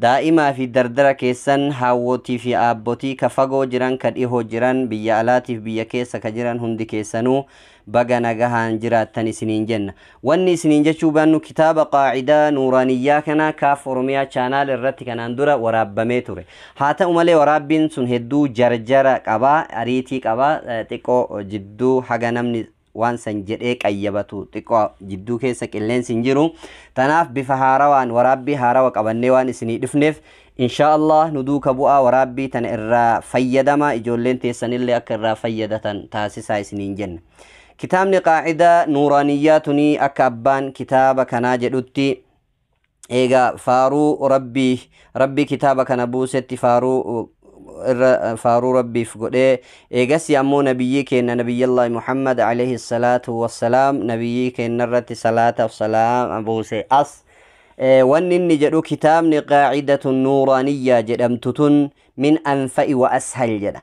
Daa'imaa fi dardara keessan, haawwotii fi aabbotii, ka fagoo jiran, ka dhihoo jiran, biyya alaatii fi biyya keessa ka jiran hundi keessanuu baga nagahaan jiraattan isiniin jenna. Wanni isiniin jechuu baannu kitaaba Qaa'idaa Nuuraaniyyaa kana Kaaf Oromiyaa Channel irratti kanaan dura waraabbamee ture. Haa ta'u malee waraabbiin sun hedduu jarjara qaba, ariitii qaba, xiqqoo jidduu haga namni waan san jedhee qayyabatu xiqqoo jidduu keessa qilleensi hin jiru tanaaf bifa haarawaan waraabbii haarawa qabannee waan isinii dhufneef inshaa allah nu duuka bu'aa waraabbii tana irraa fayyadama ijoolleen teessanillee akka irraa fayyadatan taasisaa isiniin jenna kitaabni qaacidaa nuuraaniyyaa tunii akka abbaan kitaaba kanaa jedhutti Eegaa faaruu Rabbii, Rabbi kitaaba kana buusetti faaruu irra faaruu Rabbiif godhee, eegasii ammoo Nabiyyii keenna Nabiyyallaahi Muhammad alayhi salaatu wassalaam Nabiyyii keenna irratti salaataaf salaama buuse. As wanni inni jedhu kitaabni Qaa'idatun Nuuraaniyyaa jedhamtu tun min anfa'i wa ashal jedha.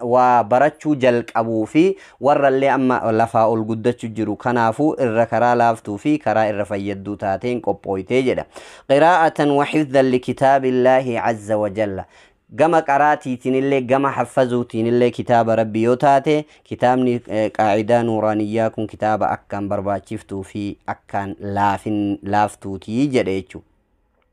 waa barachuu jalqabuu fi warrallee amma lafaa ol guddachu jiru kanaafuu irra karaa laaftuu fi karaa irra fayyadduu taateen qophooyte jedha. Qiraa'atan wa hifzan li kitaabillaahi azza wa jalla. Gama qaraatiitinillee gama haffazuutiinillee kitaaba Rabbii yoo taate kitaabni qaa'idaa nuuraaniyyaa kun kitaaba akkaan barbaachiftuu fi akkaan laafin laaftuuti jedhe jechu.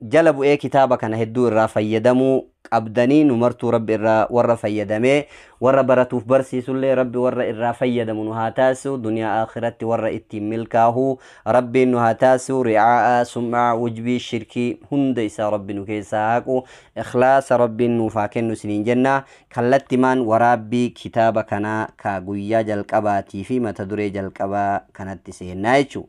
jala bu'ee kitaaba kana hedduu irraa fayyadamuu qabdanii nu martuu rabbi irraa warra fayyadamee warra baratuuf barsiisullee rabbi warra irraa fayyadamu nu haa taasisu duniyaa akhiratti warra ittiin milkaahu rabbiin nu haa taasisu ri'aa'a sum'aa wujbii shirkii hunda isaa rabbi nu keessaa haqu ikhlaasa rabbiin nuuf haa kennu isiniin jenna kallattimaan waraabbii kitaaba kanaa ka guyyaa jalqabaatii fi mata duree jalqabaa kanatti seennaa jechuudha.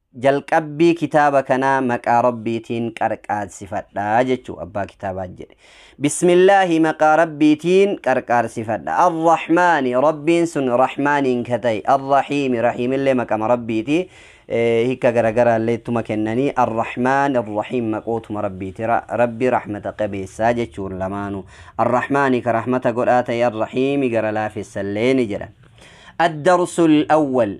Jalqabbii kitaaba kanaa maqaa Rabbiitiin qarqaarsifadha jechuu abbaa kitaabaa jedhe. Bismillaahi maqaa Rabbiitiin qarqaarsifadha. Ar-Rahmaani Rabbiin sun Rahmaaniin ka ta'e. Ar-Rahiimi Rahiimillee maqama Rabbiiti. Eh, Hikka garagaraallee ittuma kennanii Ar-Rahmaan Ar-Rahiim maqootuma Rabbiiti. Ra- Rabbi rahmata qabeessaa jechuun lamaanu. Ar-Rahmaani ka rahmata godhaa ta'e Ar-Rahiimi gara laafessallee ni jedhan. الدرس الأول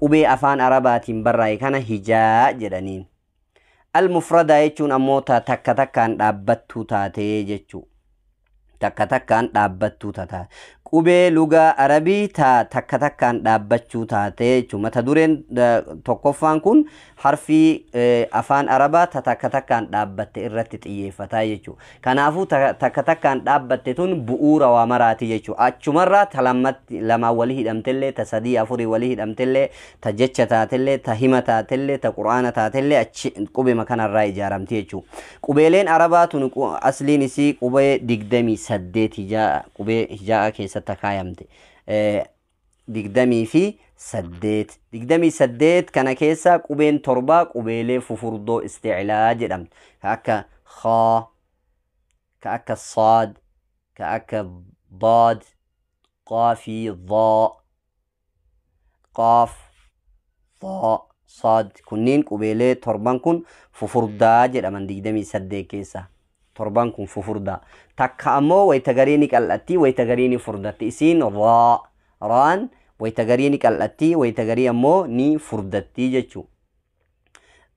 Qubee afaan Arabaatiin barraa'e kana hijaa jedhaniin. Al-mufradaa jechuun ammoo ta takka takkaan dhaabbattuu taatee jechuu. Takka takkaan dhaabbattuu tataa. Qubee lugaa Arabii ta takka takkaan dhaabbachuu taatee jechuu. Mata dureen tokkoffaan kun harfii afaan Arabaa ta takka takkaan dhaabbatte irratti xiyyeeffataa jechuu. Kanaafuu ta takka takkaan dhaabbatte tun bu'uura waa maraati jechu. Achumarraa ta lammatti lamaan wali hidhamtellee, ta sadii afurii wali hidhamtellee, ta jecha taatellee, ta hima taatellee, ta Qur'aana taatellee achi qubema kanarraa ijaaramti jechu. Qubeeleen Arabaa tun qu asliin isii qubee 28 hijaa qubee hijaa'aa keessatti akaayamte. 28. 28 kana keessaa qubeen torbaa qubeelee fufurdoo isticlaa jedhamtu. Ka akka khaa, ka akka saad, ka akka daad, qaa fi dhaa, qaaf, Faa, Saad kunniin qubeelee torban kun fufurdaa jedhaman 28 keessa. Torban kun fufurdaa. Takka ammoo wayta garii ni qal'atti, wayta garii ni furdatti. Isiin raa, raan wayta garii ni qal'atti, wayta garii ammoo ni furdatti jechuu.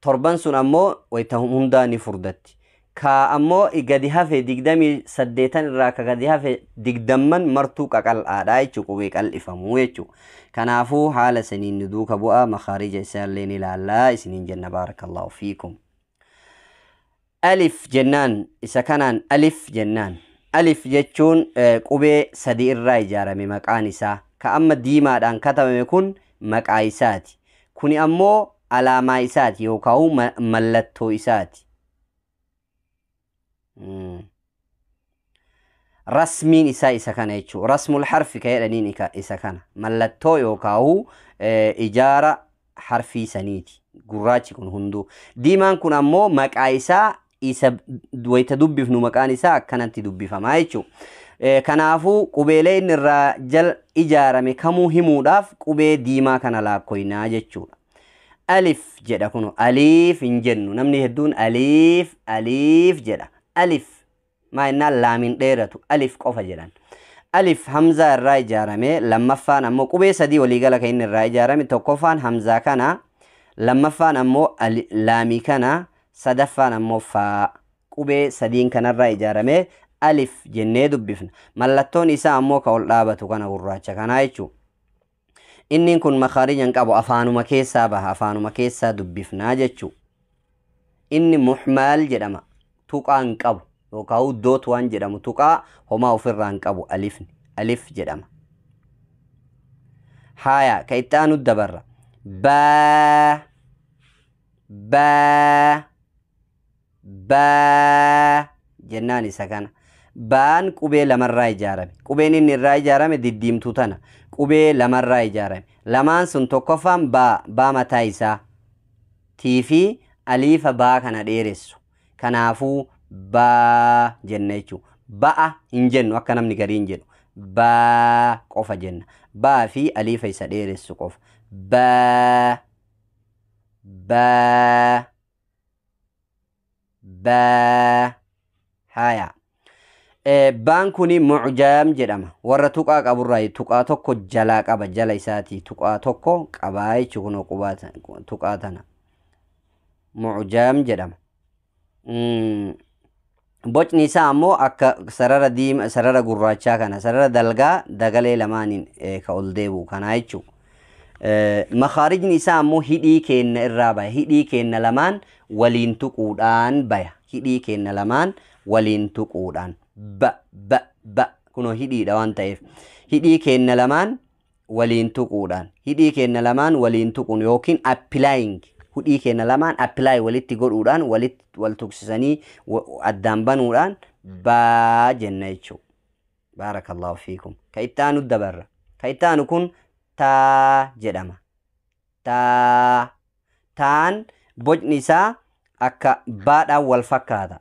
Torban sun ammoo wayta hundaa ni furdatti. Ka ammo i gadi hafe digdamii saddeetan irraa ka gadi hafe digdamman martuu qaqal'aadha jechu qubee qal'ifamu jechu. Kanaafu haala saniin nu duuka bu'a makhaarija isaallee ni laalla isiniin jenna baarakallahu fiikum. Alif jennaan isa kanaan alif jennaan. Alif jechuun qubee sadi irraa ijaarame maqaan isaa. Ka amma diimaadhaan katabame kun maqaa isaati. Kuni ammoo alaamaa isaati yookaahu mallattoo isaati. rasmiin isaa isa kana jechuudha. Rasmul harfi ka jedhaniin isa kana. Mallattoo yookaahuu ijaara harfii saniiti. Gurraachi kun hunduu. Diimaan kun ammoo maqaa isaa isa wayita dubbifnu maqaan isaa akkanatti dubbifama jechuudha. Kanaafuu qubeelee inni irraa jal ijaarame kamuu himuudhaaf qubee diimaa kana laakkoynaa jechuudha. alif jedha kuno aliif hin jennu namni hedduun aliif aliif jedha alif maa innaan laamiin dheeratu alif qofa jedhan alif hamzaa irraa ijaarame lammaffaan ammoo qubee sadii waliigala kan inni irraa ijaarame tokkoffaan hamzaa kana lammaffaan ammoo ali- laamii kana sadaffaan ammoo faa qubee sadiin kanarraa ijaarame alif jennee dubbifna mallattoon isaa ammoo ka ol dhaabatu kana gurraacha kanaa jechuudha Inniin kun makhaarija hin qabu afaanuma keessaa baha afaanuma keessaa dubbifnaa jechuu inni muhmaal jedhama tuqaa hin qabu yookaan doot waan jedhamu tuqaa homaa ofirraa hin qabu alifni alif jedhama haayaa ka itti aanu dabarra baa baa Baa jennaan isa kana. Baan qubee lamarraa ijaarame. Qubeen inni irraa ijaarame diddiimtuu tana. Qubee lamarraa ijaarame. Lamaan sun tokkoffaan baa, baa mataa isaa. Tii fi aliifa baa kana dheeressu. Kanaafuu baa jenna jechuudha. Ba'a hin jennu akka namni gariin jedhu. Baa qofa jenna. Baa fi aliifa isa dheeressu qofa. Baa. Baa. baa haya Eh, baan kuni mucjaam jedhama warra tuqaa qaburraa tuqaa tokko jalaa qaba jala isaatii tuqaa tokko qabaa jechu kunoo qubaa ta- tuqaa tana mucjaam jedhama Mm, Bocni isaa ammoo akka sarara diima sarara gurraachaa kana sarara dalgaa dagalee lamaaniin eh, ka ol deebi'u kanaa jechuudha. Makaarijni isaa ammoo hidhii keenna irraa baya. Hidhii keenna lamaan waliin tuquudhaan baya. Hidhii keenna lamaan waliin tuquudhaan. Ba, ba, ba. Kunoo hidhiidha waan ta'eef. Hidhii keenna lamaan waliin tuquudhaan, hidhii keenna lamaan waliin tuquun ykn applying, hudhii keenna lamaan apply walitti godhuudhaan, walit, wal tuqsisanii, wa, addaan banuudhaan, ba jenna jechuu. Baarakallahu fiikum. Ka itti aanu dabarra. Ka itti aanu kun taa jedhama. Taa. Taan bocni isaa akka baadhaan wal fakkaata.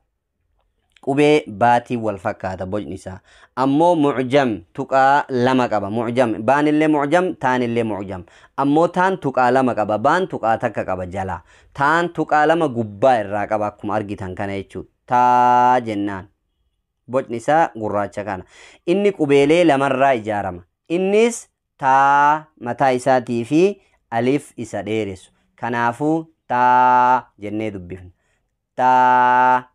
Qubee baatiin wal fakkaata bocni isaa. Ammoo mu'jam tuqaa lama qaba. Mu'jam baanillee mu'jam taanillee mu'jam. Ammoo taan tuqaa lama qaba baan tuqaa takka qaba jalaa. Taan tuqaa lama gubbaa irraa qaba akkuma argitan kana jechuudha. Taa jennaan. Bocni isaa gurraacha kana. Inni qubeelee lamarraa ijaarama. Innis taa mataa isaatii fi alif isa dheeressu. Kanaafuu taa jennee dubbifna. taa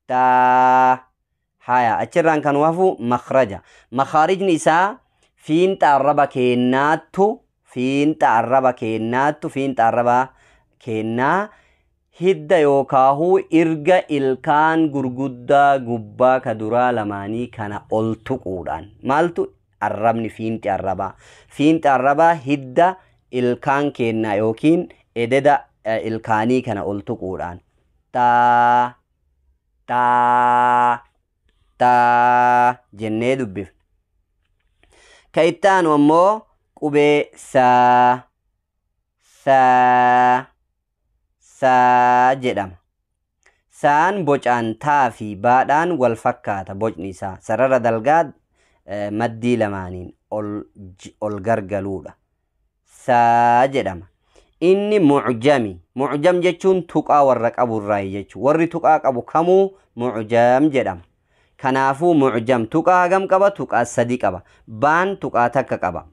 taa haya achirraan kan hafu makhraja makhaarijni isaa fiinxa arraba keennaattu fiinxa arraba keennaattu fiinxa arraba keennaa hidda yookaahu irga ilkaan gurguddaa gubbaa ka duraa lamaanii kana ol tuquudhaan maaltu Arrabni fiinxi arrabaa. Fiinxi arrabaa hidda ilkaan keennaa yookiin ededa eh, ilkaanii kana ol tuquudhaan. Taa, taa, taa jennee dubbifna. Ka itti aanu ammoo qubee saa, saa saa jedhama. Saan bocaan taa fi baadhaan wal fakkaata bocni isaa. Sarara dalgaa maddii lamaaniin ol gargaluudha. saa jedhama. Inni mu'jami. Mu'jam jechuun tuqaa warra qabu irraayi jechuudha. Warri tuqaa qabu kamuu mu'jam jedhama. Kanaafuu mu'jam tuqaa hagam qaba? Tuqaa sadi qaba. Baan tuqaa takka qaba.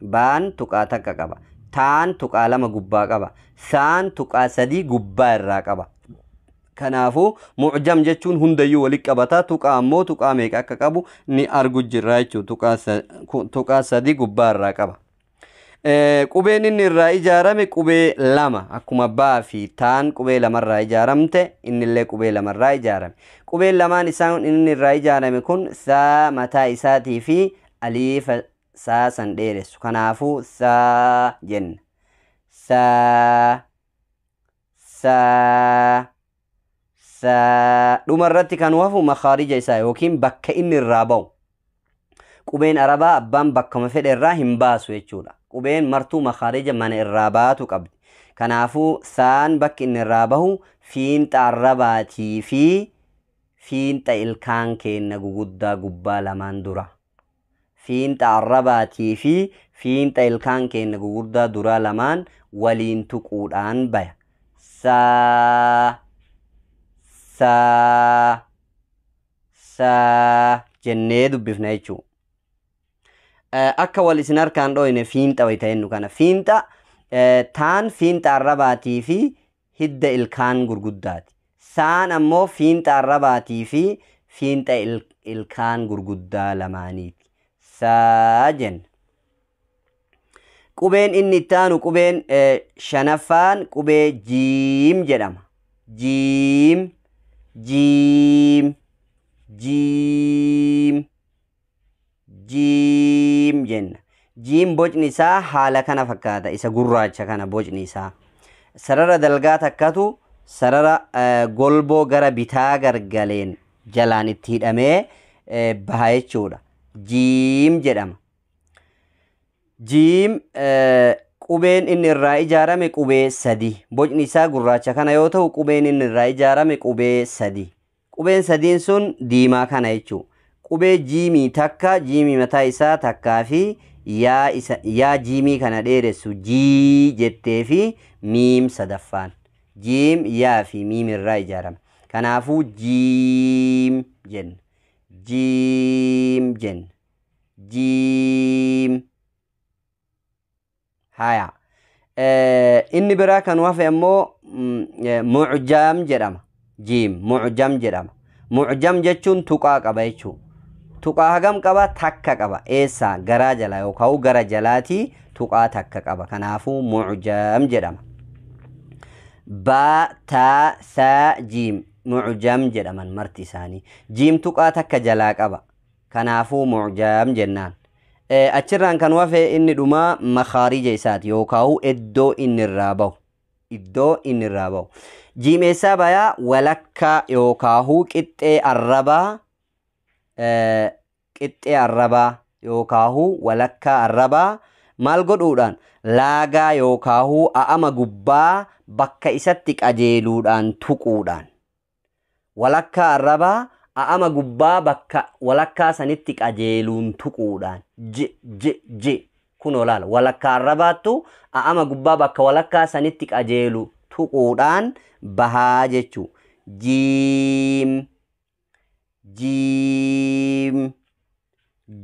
Baan tuqaa takka qaba. Taan tuqaa lama gubbaa qaba. Saan tuqaa sadii gubbaa irraa qaba. Kanaafuu mu'jam jechuun hundayyuu walitti qabata. Tuqaa ammoo tuqaa meeqa akka qabu ni argu jirra jechuudha. Tuqaa sa- ku- Tuqaa sadii gubbaa irraa qaba. Eh, Qubeen inni irraa ijaarame qubee lama akkuma baa fi taan qubee lamarraa ijaaramte innillee qubee lamarraa ijaarame. Qubeen lamaan isaan inni irraa ijaarame kun saa mataa isaatii fi aliifa saa san dheeressu. Kanaafuu saa jenna. Saa saa Sa- dhuma irratti kan hafu makaarija isaa yookiin bakka inni irraa ba'u qubeen arabaa abbaan bakkuma fedhe irraa hin baasu jechuudha qubeen martuu makaarija mana irraa baatu qabdi kanaafuu saan bakki inni irraa bahu fiinxa arabaatii fi fiinxa ilkaan keenna guguddaa gubbaa lamaan dura fiinxa arrabaatii fi fiinxa ilkaan keenna gugurdaa duraa lamaan waliin tuquudhaan baya. Sa, sa, sa jennee dubbifna jechuudha. Akka wal isin harkaan dhooyne fiinxa wayita jennu kana fiinxa taan fiinxa arrabaatii fi hidda ilkaan gurguddaati. Saan ammoo fiinxa arrabaatii fi fiinxa ilkaan gurguddaa lamaaniiti. Sa jenna. Qubeen inni itti aanu qubeen shanaffaan qubee jiim jedhama. Jiim, jiim, jiim. jiim jenna. Jiim bocni isaa haala kana fakkaata. Isa gurraacha kana bocni isaa. Sarara dalgaa takkatu sarara eh, golboo gara bitaa gargaleen jalaan itti hidhamee eh, baha jechuudha. Jiim jedhama. Jiim eh, qubeen inni irraa ijaarame qubee sadi. Bocni isaa gurraacha kana yoo ta'u qubeen inni irraa ijaarame qubee sadi. Qubeen sadiin sun diimaa kana jechuu. Qubee jiimii takka jiimii mataa isaa takkaa fi yaa isa yaa jiimii kana dheeressu jii jettee fi miim sadaffaan. Jiim yaa fi miim irraa ijaarame. Kanaafuu jiim jenna. Jiim jenna. Jiim. haya inni biraa kan hafe ammoo mucjam jedhama jiim mucjam jedhama mucjam jechuun tuqaa qaba jechuu tuqaa hagam qaba takka qaba eessaa garaa jala yookaan gara jalaatii tuqaa takka qaba kanaafuu mucjam jedhama baa taa saa jiim mucjam jedhaman marti isaanii jiim tuqaa takka jalaa qaba kanaafuu mucjam jennaan achirraan kan wafe inni dhumaa makaarija isaati yookaahu iddoo inni irraa bahu iddoo inni irraa bahu jiim eessaa bayaa walakkaa yookaahu qixxee arrabaa qixxee arrabaa yookaahu walakkaa arrabaa maal godhuudhaan laagaa yookaahu a'ama gubbaa bakka isatti qajeeluudhaan tuquudhaan Walakkaa arrabaa a'ama gubbaa bakka walakkaa sanitti qajeeluun tuquudhaan. J, j, j. Kunoo laala. Walakkaa arrabaattu a'ama gubbaa bakka walakkaa sanitti qajeelu tuquudhaan bahaa jechuu. Jiim. Jiim.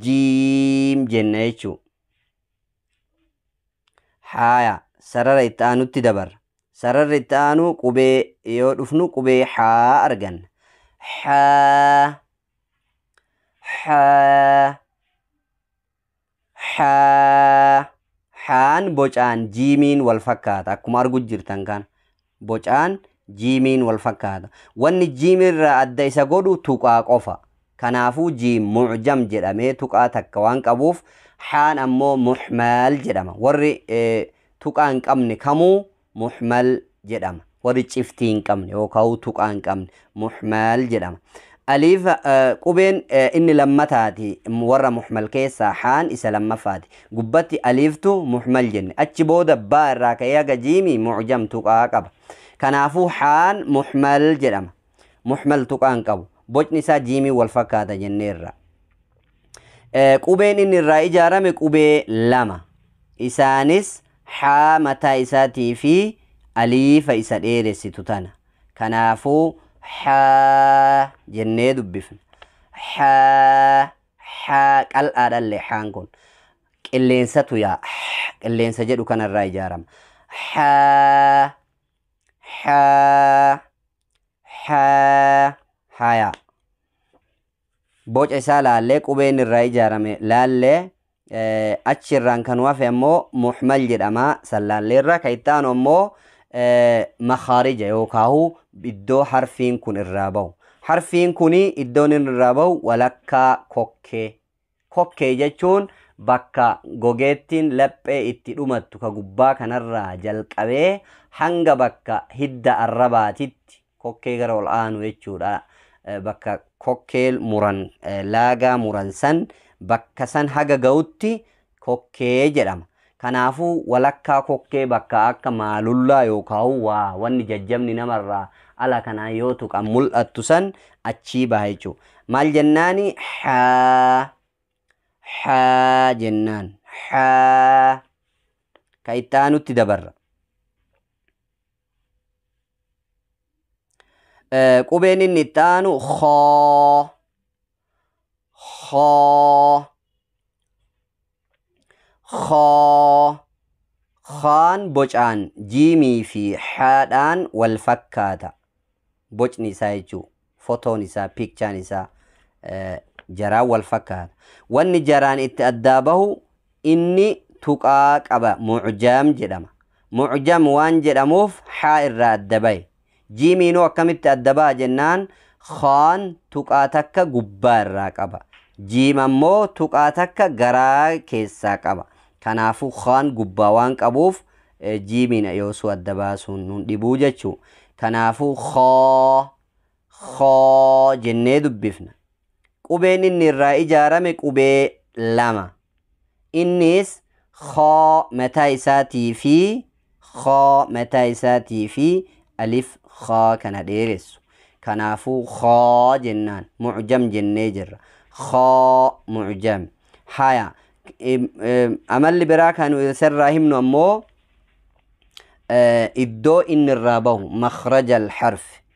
Jiim jenna jechuu. Haaya, sarara itti aanutti dabarra. Sararri itti aanu qubee yoo dhufnu qubee haa arganna. Haa, haa, haa. Haan bocaan jiimiin wal fakkaata akkuma argu jirtan kana. bocaan jiimiin wal fakkaata. Wanni jiim irraa adda isa godhu tuqaa qofa. Kanaafuu jiim mu'jam jedhamee tuqaa takka waan qabuuf haan ammoo muhmal jedhama. Warri tuqaa hin qabne kamuu muhmal jedhama. Warri ciftii hin qabne yookaawuu tuqaa hin qabne muhmal jedhama. Aliif qubeen inni lammataati warra muhmal keessaa haan isa lammaffaati. Gubbatti aliiftu muhmal jenne. Achi booda baa irraa ka'ee haga jiimi mu'jam tuqaa qaba. Kanaafuu haan muhmal jedhama. Muhmal tuqaan qabu. Bocni isaa jiimii wal fakkaata jenneerra. Qubeen inni irraa ijaarame qubee lama. Isaanis haa mataa isaatii fi aliifa isa dheeressitu tana. Kanaafuu haa jennee dubbifna. Haa haa qal'aadhallee haan kun qilleensatu yaa qilleensa jedhu kanarraa ijaarama. Haa haa haa haa yaa. boca isaa laallee qubee inni irraa ijaarame laallee achi irraan kan hafe ammoo muhmal jedhama san laallee irraa kan itti aanu ammoo makaarija yookaahu iddoo harfiin kun irraa bahu harfiin kun iddoon inni irraa bahu walakkaa kokkee Kokkee jechuun bakka gogeettiin laphee itti dhumattu ka gubbaa kanarraa jalqabee hanga bakka hidda arrabaatitti kokkee gara ol aanu jechuudha. Bakka kokkee muran, laagaa muran san bakka san haga ga'utti kokkee jedhama. Kanaafuu, walakkaa kokkee bakka akka maalullaa yookaahuu waa wanni jajjabni nama irraa ala kanaan yoo tuqan mul'attu san achii baha jechuudha. Maal jennaani? Haa. Haa jennaan. Haa. Ka itti aanutti dabarra. Eh, Qubeen inni itti aanu khaa. Khaa. Khaa. Khaan bocaan jiimii fi haadhaan wal fakkaata. Bocni isaa jechuu fotoon isaa piikchaan isaa eh, jaraan wal fakkaata. Wanni jaraan itti addaa bahu inni tuqaa qaba mucjam jedhama. Mucjam waan jedhamuuf haa irraa adda bahe. Jiimiinoo akkamitti adda baha jennaan khaan tuqaa takka gubbaa irraa qaba. Jiim ammoo tuqaa takka garaa keessaa qaba. Kanaafuu khaan gubbaa waan qabuuf jiimiin yoosuu adda baasuun nun dhibuu jechuu. Kanaafuu khaa khaa jennee dubbifna. Qubeen inni irraa ijaarame qubee lama. Innis khaa mataa isaatii fi khaa mataa isaatii fi alif khaa kana dheeressu. Kanaafuu khaa jennaan mu'jam jennee jirra. Khaa mu'jam. Haya amalli biraa kan isarraa himnu ammoo iddoo inni irraa bahu makhrajal harfi.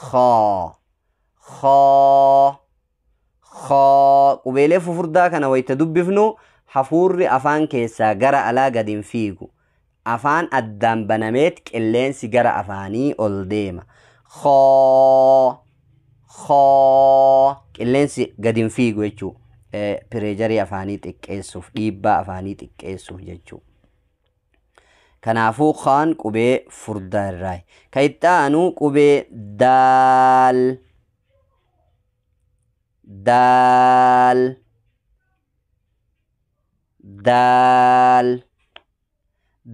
khaa khaa khaa qubeelee fufurdaa kana wayta dubbifnu hafuurri afaan keessaa gara alaa gad hin fiigu afaan addaan banameet qilleensi gara afaanii ol deema khaa khaa qilleensi gad hin fiigu jechuu pireejarii afaanii xiqqeessuuf dhiibbaa afaanii xiqqeessuuf jechuu Kanaafuu kaan qubee furdaa irraayi. Ka itti aanu qubee daal. Daal. Daal.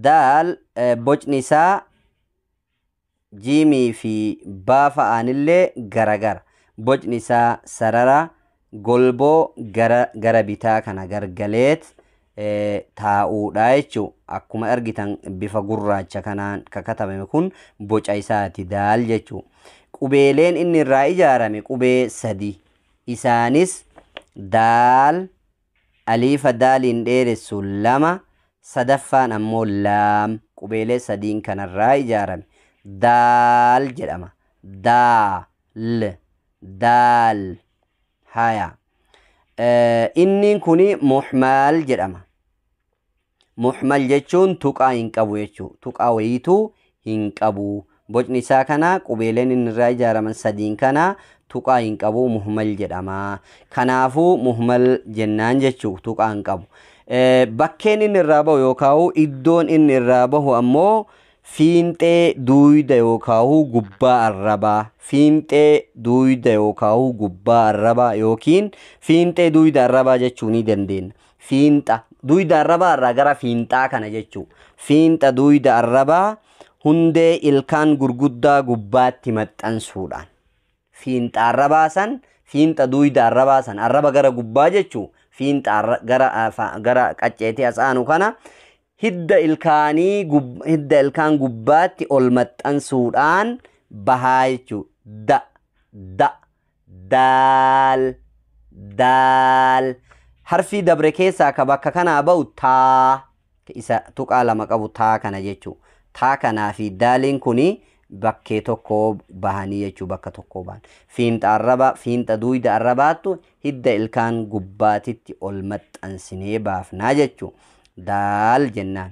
Daal eh, bocni isaa jiimii fi baa fa'aanillee garagara. Bocni isaa sarara golboo gara gara bitaa kana gargaleet taa'uudha jechuu. Akkuma argitan bifa gurraacha kanaan ka katabame kun boca isaati daal jechuu. Qubeeleen inni irraa ijaarame qubee sadi. Isaanis daal, Aliifa daaliin dheeressu 2, sadaffaan ammoo laam qubeelee sadiin kanarraa ijaarame. Daal jedhama. Daa, l, daal. Haya. Inniin kuni muhmaal jedhama. Muhmal jechuun tuqaa hin qabu jechuu tuqaa wayiitu hin qabu bocni isaa kana qubeeleen inni irraa ijaaraman sadiin kana tuqaa hin qabu muhmal jedhama kanaafuu muhmal jennaan jechuu tuqaa hin qabu bakkeen inni irraa bahu yookaa'u iddoon inni irraa bahu ammoo fiinxee duuyda yookaa'u gubbaa arrabaa fiinxee duuyda yookaa'u gubbaa arrabaa yookiin fiinxee duuyda arrabaa jechuu ni dandeenya Fiinxa duyda arrabaa irraa gara fiinxaa kana jechuu. Fiinxa duyda arrabaa hundee ilkaan gurguddaa gubbaatti maxxansuudhaan. Fiinxa arrabaa san fiinxa duyda arrabaa san arraba gara gubbaa jechuu fiinxa arra- gara afa- gara qacceetii as aanu kana hidda ilkaanii gub- hidda ilkaan gubbaatti ol maxxansuudhaan bahaa jechuu da da daal daal harfii dabre keessaa ka bakka kanaa ba'u taa ka isa tuqaa lama qabu taa kana jechuu taa kanaa fi daaliin kuni bakkee tokkoo bahanii jechuu bakka tokkoo bahan fiinxa arrabaa fiinxa duuyda arrabaattu hidda ilkaan gubbaatitti ol maxxansinee baafnaa jechuu daal jennaan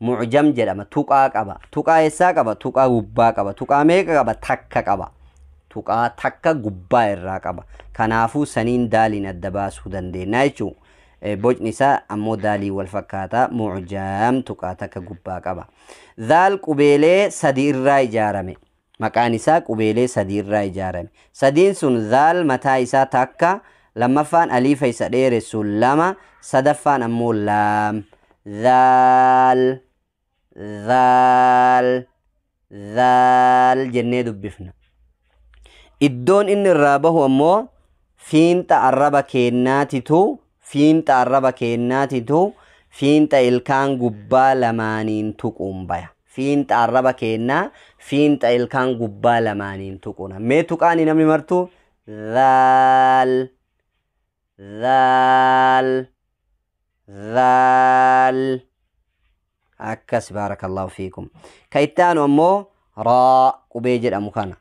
mucjam jedhama tuqaa qaba tuqaa eessaa qaba tuqaa gubbaa qaba tuqaa meeqa qaba takka qaba tuqaa takka gubbaa irraa qaba kanaafuu saniin daaliin adda baasuu dandeenya jechuu bocni isaa ammoo daalii wal fakkaata mucjam tuqaa takka gubbaa qaba daal qubeelee sadi irraa ijaarame Maqaan isaa qubeelee sadii irraa ijaarame. Sadiin sun dhaal mataa isaa takka, lammaffaan aliifa isa dheeressu lama, sadaffaan ammoo laam. Dhaal, dhaal, dhaal jennee dubbifna. Iddoon inni irraa bahu ammoo fiinxa arraba keennaatitu Fiinxa arraba keennaatitu fiinxa ilkaan gubbaa lamaaniin tuquun baya. Fiinxa arraba keennaa fiinxa ilkaan gubbaa lamaaniin tuquuna. Mee tuqaani namni martuu dhaal dhaal dhaal. akkas baarakallahu fiikum ka itti aanu ammoo raa qubee jedhamu kana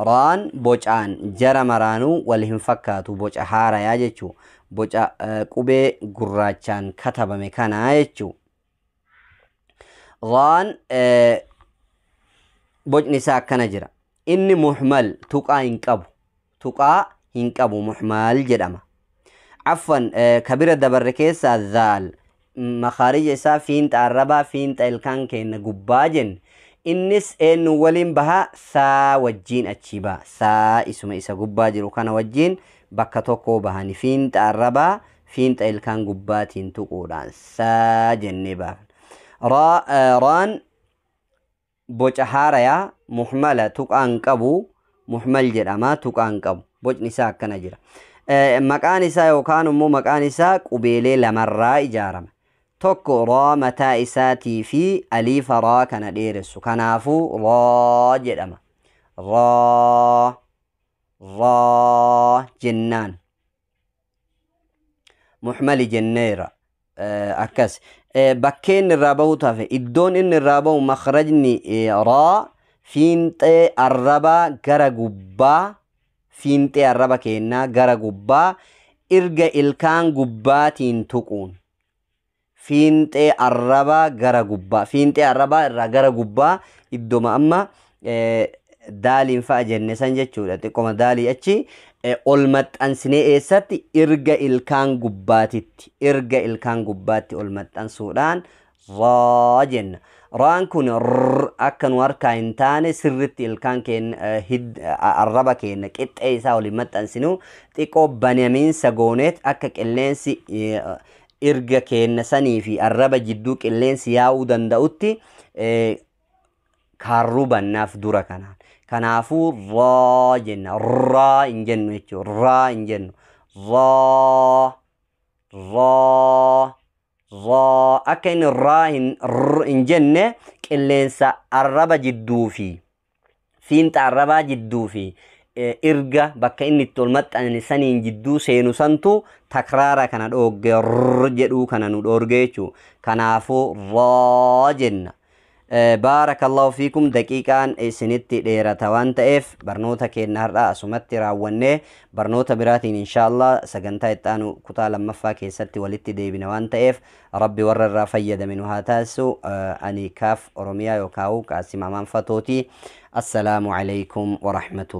raan bocaan jara maraanuu wal hin fakkaatu boca haarayaa jechuu boca eh, qubee gurraachaan katabame kana jechuu raan eh, bocni isaa akkana jira inni muhmal tuqaa hin qabu tuqaa hin qabu muhmaal jedhama affan eh, ka bira dabarre keessaa zaal m- makaarija isaa fiinxa arrabaa fiinxa ilkaan keenna gubbaa jenne innis eennu waliin baha saa wajjiin achii baha saa isuma isa gubbaa jiru kana wajjiin bakka tokkoo bahani fiinxa arrabaa fiinxa ilkaan gubbaatiin tuquudhaan saa jennee baafna Raa- eh, raan boca haaraya muhmala tuqaa hin qabu muhmal jedhama tuqaa hin qabu bocni isaa akkana jira Eh, maqaan isaa yookaan immoo maqaan isaa qubeelee lamarraa ijaarama tokko raa mataa isaatii fi aliifa raa kana dheeressu kanaafuu raa jedhama raa raa jennaan muhmali jenneera akkas bakkee inni irraa bahu tafe iddoon inni irraa bahu makrajni raa fiinxee arrabaa gara gubbaa fiinxee arraba keennaa gara gubbaa irga ilkaan gubbaatiin tuquun fiinxee arrabaa gara gubbaa fiinxee arrabaa irraa gara gubbaa iddoma amma daaliin fa'a jenne san jechuudha xiqqoma daalii achi ol maxxansinee eessatti irga ilkaan gubbaatitti irga ilkaan gubbaatti ol maxxansuudhaan raa jenna raan kun akka nu harkaa hin taane sirritti ilkaan keenya arraba keenya qixxee isaa waliin maxxansinu xiqqoo banamiinsa gooneet akka qilleensi irga keenna sanii fi arraba jidduu qilleensi yaa'uu danda'utti eh, kaarruu bannaaf dura kanaan. Kanaafuu raa jenna. Raa hin jennu jechuudha. Raa hin jennu. Raa. Raa. Raa. Akka inni raa hin, r hin jenne qilleensa arraba jidduu fi fiinxa arrabaa jidduu fi irga bakka inni itti ol maxxanne saniin jidduu seenu santu takraara kana dhoogge r jedhuu kana nu dhoorge jechuu kanaafuu raa jenna baarakallahu fiikum daqiiqaan isinitti dheerata waan ta'eef barnoota keenna har'a asumatti raawwannee barnoota biraatiin inshaallah sagantaa itti aanu kutaa lammaffaa keessatti walitti deebina waan ta'eef Rabbi warra irraa fayyadame nu haa taasisu. Ani kaaf Oromiyaa yookaan Qaasim Amaan Fatooti. Assalaamu alaikum wa rahmatullahi.